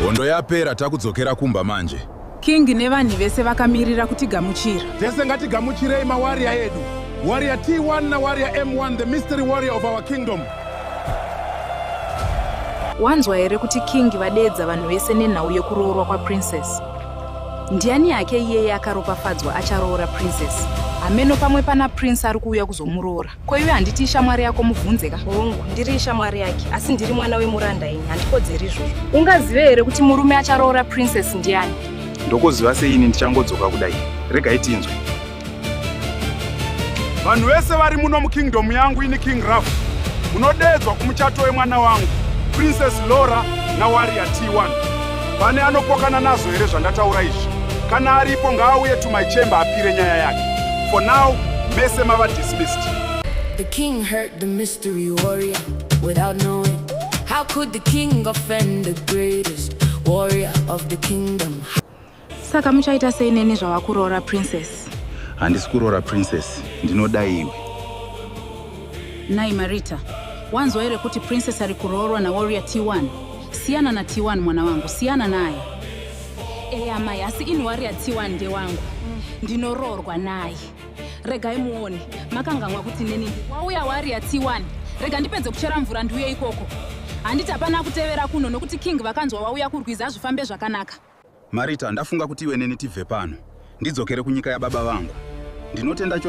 Hondo yapera takudzokera kumba manje. King nevanhu vese vakamirira kutigamuchira. Tese ngatigamuchirei mawarrior edu. Warrior T1 na Warrior M1 the mystery warrior of our kingdom. Wanzwa here kuti King vadeedza vanhu vese nenhau yekuroorwa kwaPrincess? Ndiani yake iyeye akaropafadzwa acharoora princess hameno pamwe pana prince ari kuuya kuzomuroora ko iwe handiti ishamwari yako mubvunze ka hongu ndiri ishamwari yake asi ndiri mwana wemuranda ini handikodzeri izvozvo ungazive here kuti murume acharoora princess ndiani ndokuziva seini ndichangodzoka kudai regai tinzwe vanhu vese vari muno mukingdom yangu ini king raf munodeedzwa kumuchato wemwana wangu princess lora nawaria t1 pane anopokana nazvo here zvandataura izvi kana aripo ngaauye to my chamber apire nyaya yake for now mese mava dismissed the king heard the mystery warrior without knowing how could the king offend the greatest warrior of the kingdom Saka muchaita sei neni zvavakuroora princess? Handisi kuroora princess, ndinoda iwe. Nai Marita, wanzwa here kuti princess ari kuroorwa naWarrior T1? Siyana naT1 mwana wangu, siyana naye. Eya mai, asi ini Warrior T1 ndewangu. Ndinoroorwa naye. Regai muone, makanganwa kuti neni wauya Warrior T1. Rega ndipedze kuchera mvura ndiuye ikoko. Handiti hapana kutevera kuno nokuti king vakanzwa wauya kurwizi hazvifambe zvakanaka. Marita, ndafunga kuti iwe neni tibve pano ndidzokere kunyika yababa vangu. Ndinotenda cho.